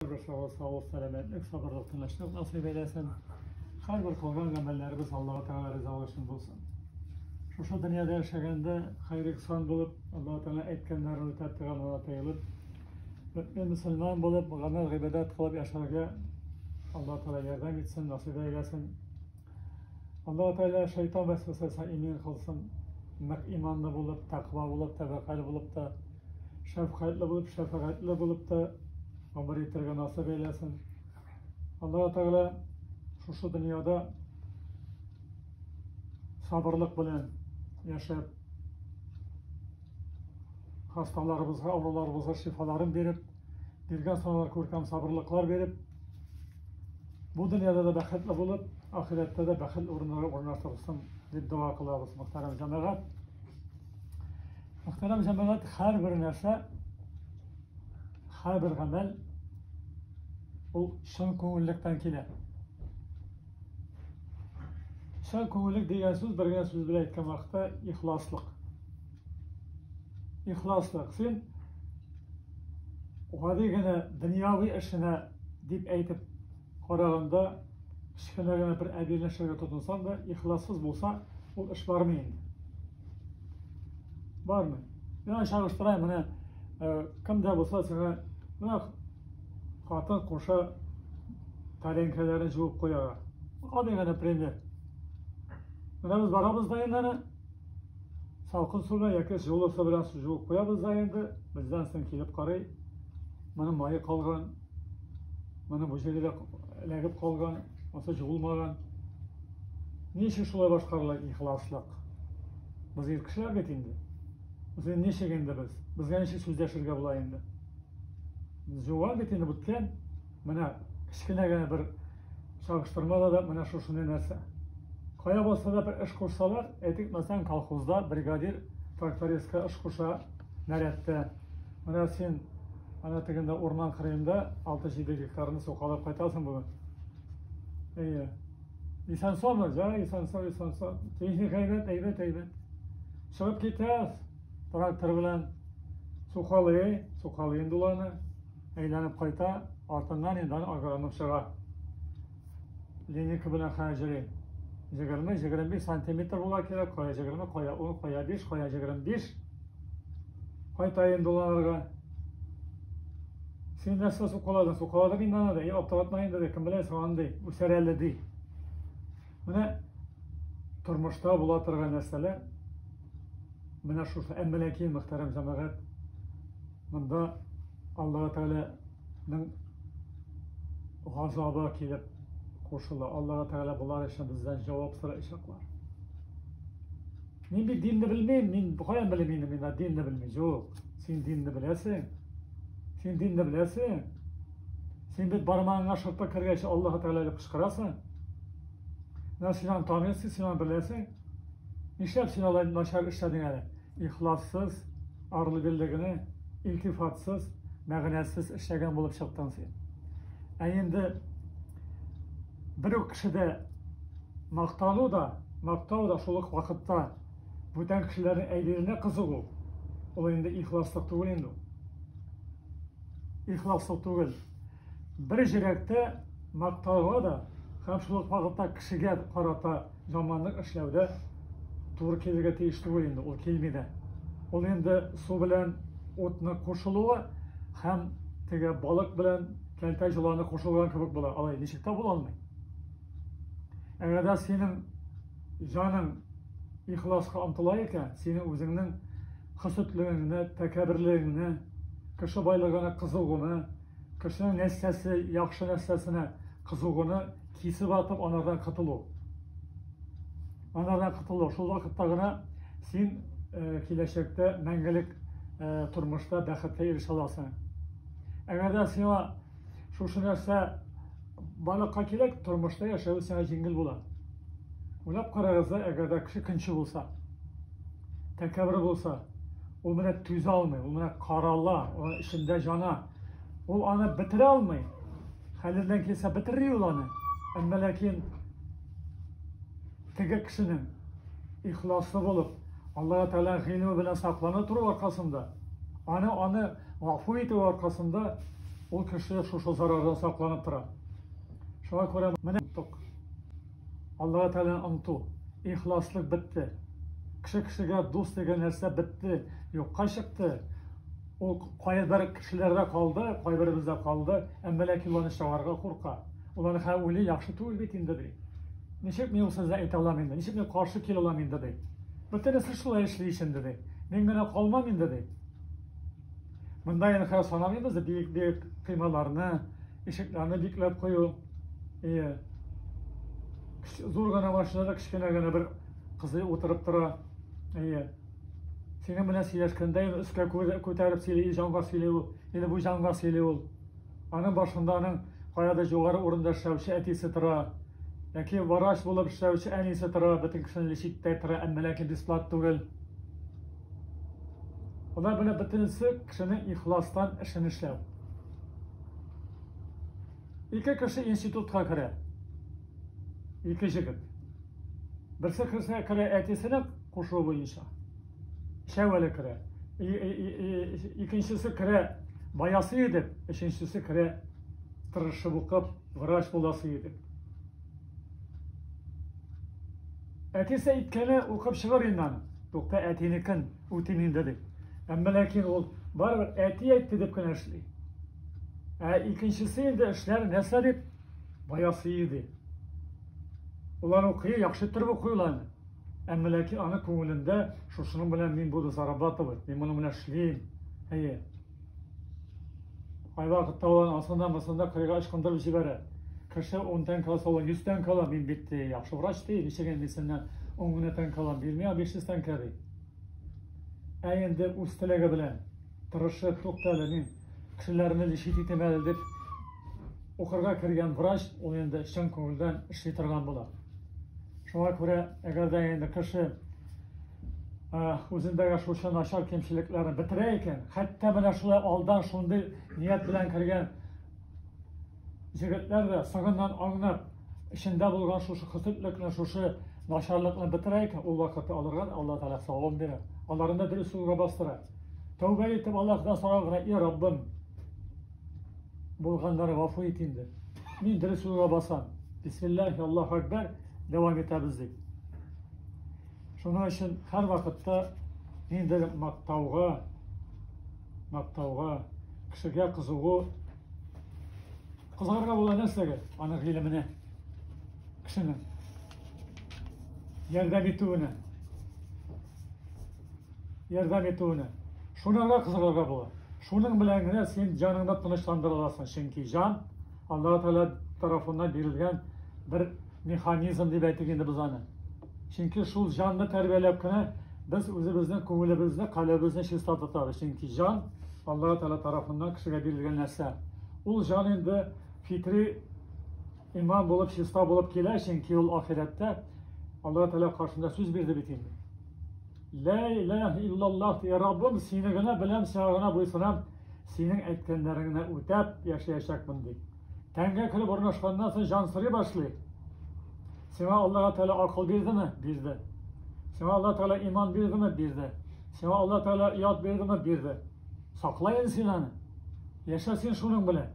Сау, сау, сәламәтлек, сабырлык, тынычлык насыйп әйләсен. Һәрбер кылган гамәлләребез Аллаһу Тәгалә ризалыгы өчен булсын. Шушы дөньяда яшәгәндә хәйр ихсан булып, Аллаһу Тәгалә әйткәннәрен үтәп торган ана тыелып, мөмин мөселман булып, гамәл гыйбадәт кылып яшәргә Аллаһу Тәгалә ярдәм итсен, насыйп әйләсен. Аллаһу Тәгалә шайтан вәсвәсәсенә имин кылсын. Нык иманлы булып, тәкъва булып, тәвәккәл булып та шәфкатьле булып, шәфәгатьле булып та гомер итәргә насыйп әйләсен. Аллаһу Тәгалә шушы дөньяда сабырлык белән яшәп, хасталарыбызга, авыруларыбызга шифаларын биреп, биргән саналар күркәм сабырлыклар биреп, бу дөньяда да бәхетле булып, ахирәттә дә бәхетле урыннарга урнаштырсын дип дога кылабыз, мөхтәрәм җәмәгать. Мөхтәрәм җәмәгать, һәрбер нәрсә, һәрбер гамәл ул чын күңеллектән килә. Чын күңеллек дигән сүз бер генә сүз белән әйткән вакытта ихласлык. Ихласлык. Син гади генә дөньяви эшенә дип әйтеп караганда, кечкенә генә бер әби нәрсәгә тотынсаң да, ихлассыз булса, ул эш бармый инде. Бармый. Миңа чагыштырайм, менә э, кемдә булса сиңа менә хатын куша тәрәңкәләрен жуып куярга. Гади генә пример. Менә без барабыз да инде аны салкын су белән яки җылы су белән жуып куябыз да инде, бездән соң килеп карый, моның мае калган, Менә бу җирдә эләгеп калган, аса җуылмаган. Ни өчен шулай башкарыла ихласлык? Без ир кешеләр бит инде. Без инде ничек инде без? Безгә ничек сүз дәшергә була инде? Җуган бит инде бүткән. Менә кечкенә генә бер чагыштырмада да менә шушыны нәрсә. Кая булса да бер эш кушсалар, әйтик, мәсәлән, колхозда бригадир трактористка эш куша, нәрәттә. Менә син ана тегендә урман кырыенда 6-7 гектарны сукалап кайтасың бүген. Әйе. Исән саумы? Җа, исән сау, исән сау. Техника әйбәт, әйбәт, әйбәт. Чыгып китәс. Трактор белән сукалый, сукалый инде ул аны. Әйләнеп кайта, артыннан инде аны агроном чыга. Линейка белән хәҗери. 20-25 сантиметр була кирәк, кая 20, кая 10, кая 5, кая 25. Кайтайын доланырга. Син нәрсә сукаладың? Сукаладың инде аны да. Аптыратма инде дә. Кем белә соң андый үсәр әле ди. Менә тормышта була торган нәрсәләр менә шушы әммәләки мөхтәрәм җәмәгать монда алла тәгаләнең газабы килеп кушыла алла тәгалә болар өчен бездән җавап сорыйчаклар Мин бит динне белмим, мин каян белим инде мин динне белми. Юк, син динне беләсең. Син динне беләсең. Син бит бармагыңа шырпы кергәч Аллаһ Тәгалә дип кычкырасың. Менә син аны танысың, син аны беләсең. Нишләп син алай начар эшләдең әле? Ихлассыз, арлы-бирле генә, илтифатсыз, мәгънәсез эшләгән булып чыктың син. Ә инде Бер үк кешедә мактану да, мактау да шул ук вакытта бүтән кешеләрнең әйберенә кызыгу ул. Ул инде ихласлык түгел инде ул. Ихласлык түгел. Бер җөрәктә мактауга да һәм шул ук вакытта кешегә карата Заманның эшләүдә туры килергә тиеш түгел инде, ул килми дә. Ул инде су белән утны кушылуы һәм теге балык белән кәлтә җоланы кушылган кебек була. Алай ничек тә була алмый. Әгәр дә синең җаның ихласка омтыла икән, синең үзеңнең хөсетлегеңне, тәкәберлегеңне, кеше байлыгына кызыгуны, кешенең нәрсәсе, яхшы нәрсәсенә кызыгуны Кисеп атып анардан котылу. Анардан котылу. Шул вакытта гына син э, киләчәктә мәңгелек э, тормышта бәхеткә ирешә аласың. Әгәр дә сиңа шушы нәрсә барлыкка кирәк, тормышта яшәү сиңа җиңел була. Уйлап карагыз, әгәр дә кеше көнче булса, тәкәбер булса, ул менә түзә алмый, ул менә карала, ул эчендә җана. Ул аны бетерә алмый. Хәледән килсә бетерри ул аны. Әмма ләкин теге кешенең ихласлы булып, Аллаһу Тәгалә гыйлеме белән саклана тору аркасында, аны аны гафу итү аркасында ул кеше шушы зарардан сакланып тора. Шуңа күрә менә тоттык. Аллаһу Тәгалә онту, ихласлык бетте. Кеше кешегә дус дигән нәрсә бетте, юкка чыкты. Ул кайбер кешеләрдә калды, кайберебездә калды, әмма ләкин ул аны чыгарырга курка. Ул аны һәм уйлый, яхшы түгел бит инде ди. Ничек мин ул сүзне әйтә алам инде, ничек мин каршы килә алам инде ди. Бөтенесе шулай эшли ич инде ди. Мин генә калмам инде ди. Монда инде хәзер санамыйбыз биек-биек коймаларны, ишекләрне бикләп кую. Ие. Зур гына машинада кечкенә генә бер кызый утырып тора. Ие. Синең белән сөйләшкәндә инде өскә күтәреп сөйли, җанга сөйли ул. Инде бу җанга сөйли ул. Аның башында аның каядыр югары урында эшләүче әтисе тора. Яки врач булып эшләүче әнисе тора, бөтен кешене лечитьтә тора, әмма ләкин бесплат түгел. Алар белән бөтенесе кешенең ихластан эшен эшләү. Ике кеше институтка керә. Ике җегет. Берсе керсә керә әтисенең Кушуы буенча. Өчәү әле керә. Икенчесе керә баясы едеп, өченчесе керә тырышып укып, врач буласы едеп. Әтисе әйткәне укып чыгар инде аны. Тукта әтинекен үтим инде дип. Әмма ләкин ул барыбер әти әйтте дип кенә эшли. Ә икенчесе инде эшләр нәрсә дип баясы иде. Улар укый, яхшы торып укыйлар. Әмма ләкин аның күңелендә шушының белән мин буду зарабатывать, мин моның белән эшлим. Әйе. Кайвакытта ул асында мысында кырыйга ычкындырып җибәрә. Кеше 10 тәңкә алса, ул 100 тәңкә ала, мин бит ди, яхшы врач ди, ничек инде синнән 10 генә тәңкә алам, бирмә 500 тәңкә ди. Ә инде үз теләге белән Тырышып, тукта әле, мин кешеләрне лечить итим әле дип укырга кергән врач, ул инде чын күңелдән эшли торган була. Шуңа күрә, әгәр дә инде кеше үзендәге шушы начар кемчелекләрен бетерә икән, хәтта менә шулай алдан шундый ният белән кергән егетләр дә соңыннан аңнап, эчендә булган шушы хөсетлекне, шушы начарлыкны бетерә икән, ул вакытта аларга Алла Тәгалә савабын бирә. Аларны да дөрес юлга бастыра. Тәүбә итеп Аллаһтан сорау гына, и Раббым, булганнары гафу ит инде. Мин дөрес юлга басам. Бисмиллахи Аллаһу Акбар дәвам итәбез дип. Шуның өчен һәр вакытта ниндидер мактауга, мактауга, кешегә кызыгу, кызыгарга була нәрсәгә? Аның гыйлеменә, кешенең ярдәм итүенә. ярдәм итүенә. Шуны гына кызыкларга була. Шуның белән генә син җаныңны тынычландыра аласың, чөнки җан Аллаһу Тәгалә тарафыннан бирелгән бер механизм дип әйтик инде без аны. Чөнки шул җанны тәрбияләп кенә без үзебезнең күңелебезне, каләбезне чиста тотабыз. Чөнки җан Аллаһу Тәгалә тарафыннан кешегә бирелгән нәрсә. Ул җан инде фитри иман булып, чиста булып килә, чөнки ул ахирәттә Аллаһу Тәгалә каршында сүз бирде бит инде. Лә иләһ иллаллах ди, Раббым, сине генә беләм, сиңа гына буйсынам, синең әйткәннәреңне генә үтәп яшәячәкмен ди. Тәнгә кереп урнашканнан соң җан сорый башлый. Сиңа Аллаһ Тәгалә акыл бирдеме? Бирде. Сиңа Аллаһ Тәгалә иман бирдеме? Бирде. Сиңа Аллаһ Тәгалә ят бирдеме? Бирде. Саклайын син аны. Яшә син шуның белән.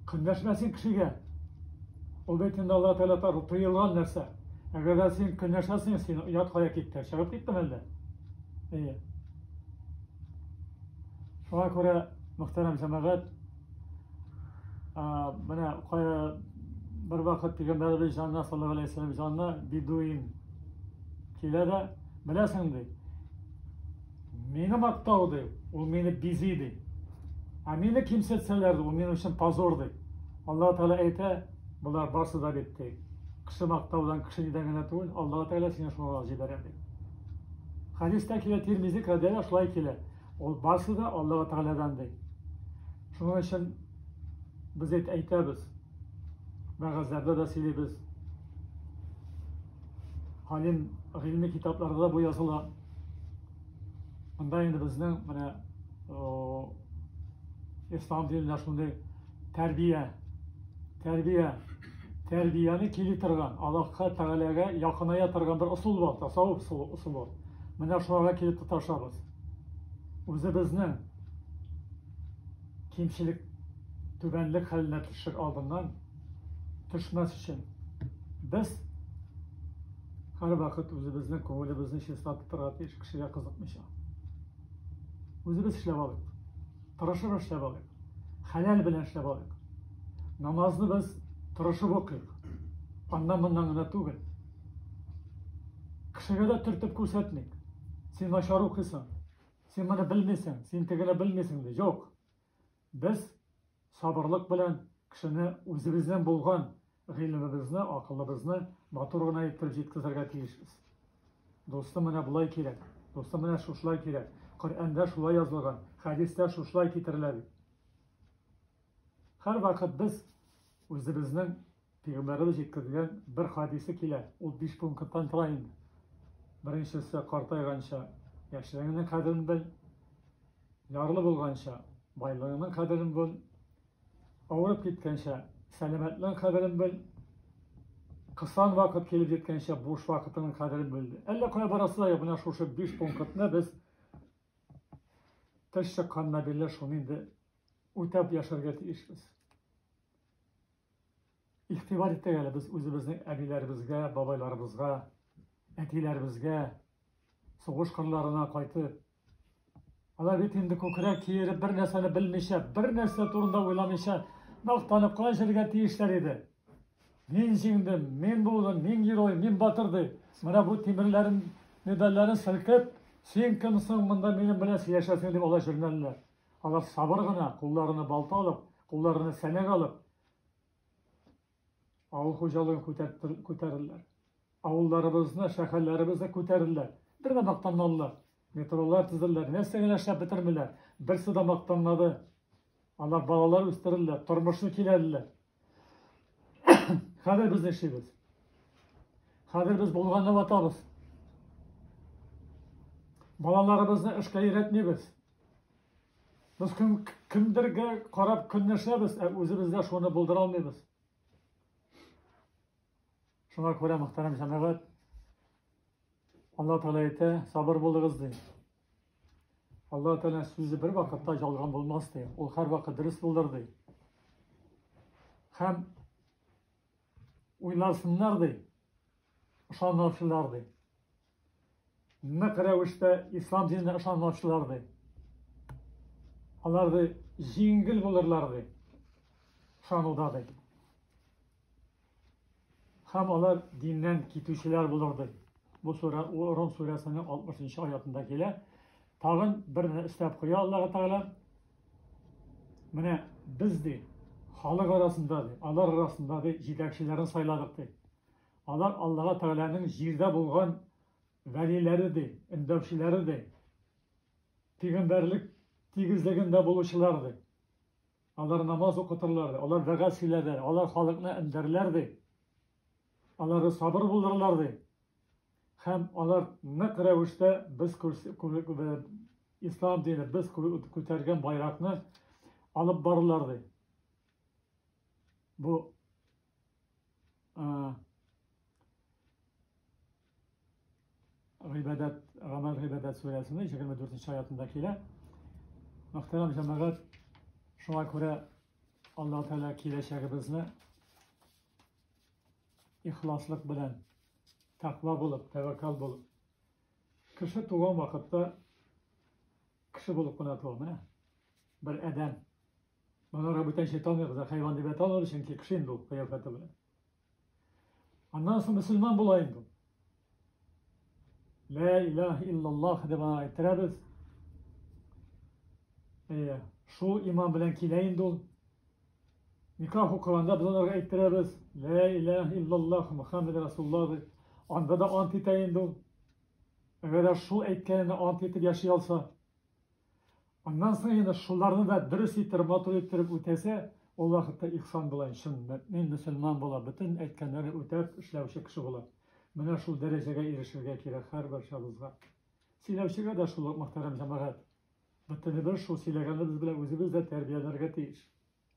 Көнләшмәсен кешегә. Ул бит инде Аллаһу Тәгалә тарафы тыелган нәрсә. Әгәр дә син көнләшәсең, син ят кая киттең? Чыгып киттең әллә? Әйе. Шуңа күрә, мөхтәрәм җәмәгать, менә кая бер вакыт пигамбәребез җанына саллаллаху алейхи вәсәлләм җанына бидуин килә дә, беләсең ди, Мине мактау ди, ул мине бизи ди. Ә мине кимсетсәләр, ул минем өчен позор ди. Аллаһу Тәгалә әйтә, болар барсы да бит ди. Кеше мактаудан, кеше нидән генә түгел, Аллаһу Тәгалә сине шуңа җибәрә ди. Хәдистә килә Тирмизи кадәр шулай килә. Ул барсы да Аллаһу Тәгаләдән ди. Шуның өчен без әйт әйтәбез. Мәгазләрдә дә сөйлибез. Халим гыйльми китапларда бу языла. Монда инде безнең менә ислам динендә шундый тәрбия, тәрбия, тәрбияне кили торган, Аллаһка Тәгаләгә якыная торган бер ысул бар, тасаввуф ысулы. Менә шуңа килеп тоташабыз. Үзебезнең кимчелек, түбәнлек хәленә төшер алдыннан төшмәс өчен без һәрвакыт үзебезнең күңелебезне чиста тотарга тиеш, кешегә кызыкмыйча. Үзебез эшләп алыйк. Тырышып эшләп алыйк. Хәләл белән эшләп алыйк. Намазны без тырышып укыйк. Аннан моннан гына түгел. Кешегә дә төртеп күрсәтмик. Син начар укыйсың. Син моны белмисең, син тегене белмисең ди. Юк. Без сабырлык белән кешене үзебезнең булган гыйлемебезне, акылыбызны матур гына итеп җиткезергә тиешбез. Дустым менә болай кирәк, дустым менә шушылай кирәк, Коръәндә шулай язылган, хәдистә шушылай китерелә бит. Һәрвакыт без үзебезнең Пигамбәребез җиткергән бер хадисе килә, ул биш пункттан тора инде. Беренчесе, картайганча, яшьлегеңнең кадерен бел, ярлы булганча, байлыгыңның кадерен бел, авырып киткәнчә, сәламәтлегең кадерен бел, кысан вакыт килеп җиткәнчә, буш вакытыңның кадерен бел. Әллә кая барасы да юк, менә шушы биш пунктны без теш чыкканнан бирле шуны инде үтәп яшәргә тиешбез. Игътибар итик әле без үзебезнең әбиләребезгә, бабайларыбызга, әтиләребезгә, сугыш кырларына кайтып. Алар бит инде күкрәк киереп, бер нәрсәне белмичә, бер нәрсә турында уйламыйча, мактанып кына җиргә тиешләр иде. Мин җиңдем, мин булдым, мин герой, мин батыр ди. Менә бу тимерләрен, медальләрен селкеп, син кемсең монда минем белән сөйләшәсең дип алай җөрмәлиләр. Алар сабыр гына, кулларына балта алып, кулларына сәнәк алып, авыл хуҗалыгын күтәрделәр. Авылларыбызны, шәһәрләребезне күтәрделәр. Бер дә мактанмадылар. Метролар төзеделәр, нәрсә генә эшләп бетермиләр. Берсе дә мактанмады. Алар балалар үстерделәр, тормышны киләделәр. Хәзер без эшлибез. Хәзер без булганны ватабыз. Балаларыбызны эшкә өйрәтмибез. Без кем, кемдергә карап көнләшәбез, ә үзебездә шуны булдыра алмыйбыз. Шуңа күрә мөхтәрәм җәмәгать, Алла Тәгалә әйтә, сабыр булыгыз ди. Алла Тәгалә сүзе бер вакытта жалган булмас ди. Ул һәрвакыт дөрес булыр ди. Һәм уйларсыннар ди. Ышанмаучылар ди. Нык рәвештә ислам диненә ышанмаучылар ди. Алар ди җиңел булырлар ди. Ышануда ди. Һәм алар диннән китүчеләр булыр, ди. Бу сүрә Ром сүрәсенең 60 нчы аятында килә. Тагын бер генә өстәп куя Аллаһ Тәгалә. Менә без ди, халык арасында ди, алар арасында ди, җитәкчеләрен сайладык ди. Алар Аллаһ Тәгаләнең җирдә булган вәлиләре ди, өндәүчеләре ди, пигамбәрлек тигезлегендә булучылар ди. Алар намаз укытырлар, ди. Алар вәгазь сөйләрләр, алар халыкны эндәрләр, ди. Алары сабыр булдырырлар, ди. Һәм алар нык рәвештә без ислам дине, без күтәргән байракны алып барырлар, ди. Бу Гыйбадәт, Гамәл Гыйбадәт сүрәсенең 24 аятында килә. Мөхтәрәм җәмәгать, шуңа күрә Аллаһ Тәгалә киләчәгебезне ихласлык белән, тәкъва булып, тәвәккәл булып. Кеше туган вакытта кеше булып кына туа, менә. Бер адәм. Монарга бүтәнчә танымыйбыз, хайван дип әйтә алмыйбыз, чөнки кеше инде ул кыяфәте белән. Аннан соң мөселман була инде. Лә илаһ иллаллах дип ана әйттерәбез. Әйе, шул иман белән килә инде ул. Никах укыганда без аларга әйттерәбез. Лә илаһ иллаллах Мухаммед Расулла дип. Анда да ант итә инде ул. Әгәр шул әйткәненә ант итеп яши алса, Аннан соң инде шуларны да дөрес иттереп, матур иттереп үтәсә, ул вакытта ихсан була, чын мөэмин, мөселман була, бөтен әйткәннәрен үтәп эшләүче кеше була. Менә шул дәрәҗәгә ирешергә кирәк һәрбарчабызга. Сөйләүчегә дә шул ук, мөхтәрәм җәмәгать. Бөтенебез шул сөйләгәнебез белән үзебез дә тәрбияләргә тиеш.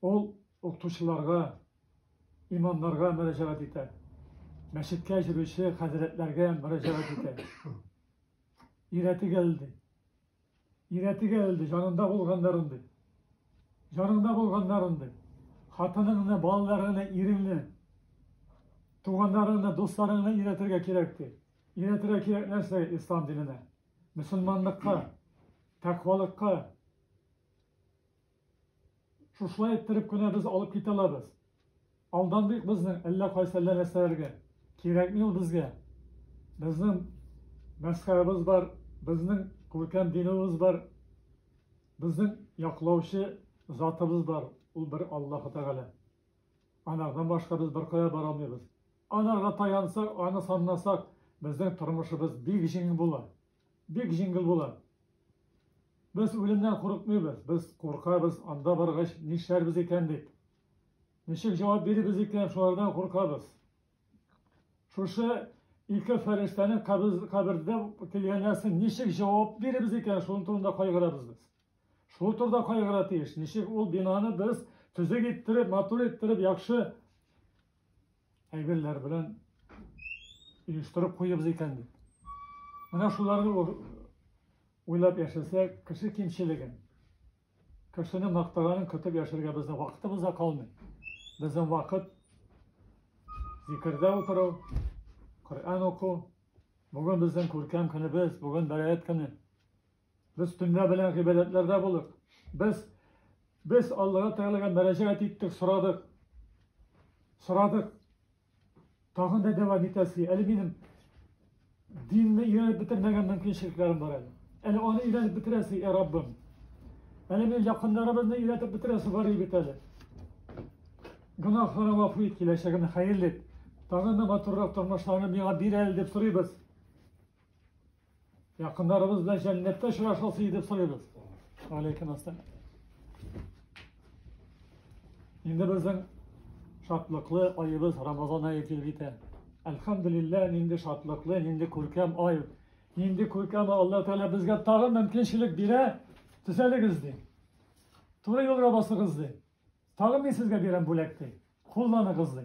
Ул укытучыларга, имамнарга мөрәҗәгать итә. Мәчеткә йөрүче хәзрәтләргә мөрәҗәгать итә. Өйрәтегез ди. Өйрәтегез ди, җанында булганнарын ди. Җанында булганнарын ди. Хатыныңны, балаларыңны, иреңне, туганнарыңны, дусларыңны өйрәтергә кирәк ди. Өйрәтергә кирәк нәрсә ислам диненә? Мөселманлыкка, тәкъвалыкка, Шушылай иттереп кенә без алып китә алабыз. Алдан бик безнең әллә кайсы әллә нәрсәләргә. Кирәкми ул безгә. Безнең мәсхәрәбез бар, безнең күркәм динебез бар, безнең яклаучы затыбыз бар, ул бер Аллаһы Тәгалә. Анардан башка без беркая бара алмыйбыз. Анарга таянсак, аны санласак, безнең тормышыбыз бик җиңел була. Бик җиңел була. Без үлемнән курыкмыйбыз, без куркабыз, анда баргач нишләрбез икән дип. Ничек җавап бирибез икән, шулардан куркабыз. Шушы ике фәрештәнең кабердә килгәннәрсен ничек җавап биребез икән, шуның турында кайгырабыз без. Шул турыда кайгыра тиеш. Ничек ул бинаны без төзек иттереп, матур иттереп, яхшы әйберләр белән оештырып куйыпбыз икән бит. Менә шуларны уйлап яшәсә, кеше кимчелеген, кешене мактаганын көтеп яшәргә безнең вакытыбыз да калмый. Безнең вакыт зикердә утыру, Коръән уку. Бүген безнең күркәм көнебез, бүген бәраәт көне. Без төнлә белән гыйбадәтләрдә булып, без, без Аллаһы Тәгаләгә мөрәҗәгать иттек, сорадык. Сорадык. Тагын да дәвам итәсе. Әле минем динне өйрәнеп бетермәгән мөмкинчелекләрем бар әле. Әле аны өйрәнеп бетерәсе, ә Раббым. Әле минем якыннарыбызны өйрәтеп бетерәсе бар бит әле. Гөнаһларны гафу ит, киләчәгемне хәерле ит. Тагын да матуррак тормышларны миңа бир әле дип сорыйбыз. Якындарыбыз белән җәннәттә очрашасы итеп сорыйбыз. Алейкум ассалам. Инде безнең шатлыклы аебыз Рамазан ае килеп җитә. Әлхәмдулиллаһ, нинди шатлыклы, нинди күркәм ай. Нинди күркәм Алла Тәгалә безгә тагын мөмкинчелек бирә. Төзәлегез ди. Туры юлга басыгыз ди. Тагын мин сезгә бирәм бүләк ди. Кулланыгыз ди.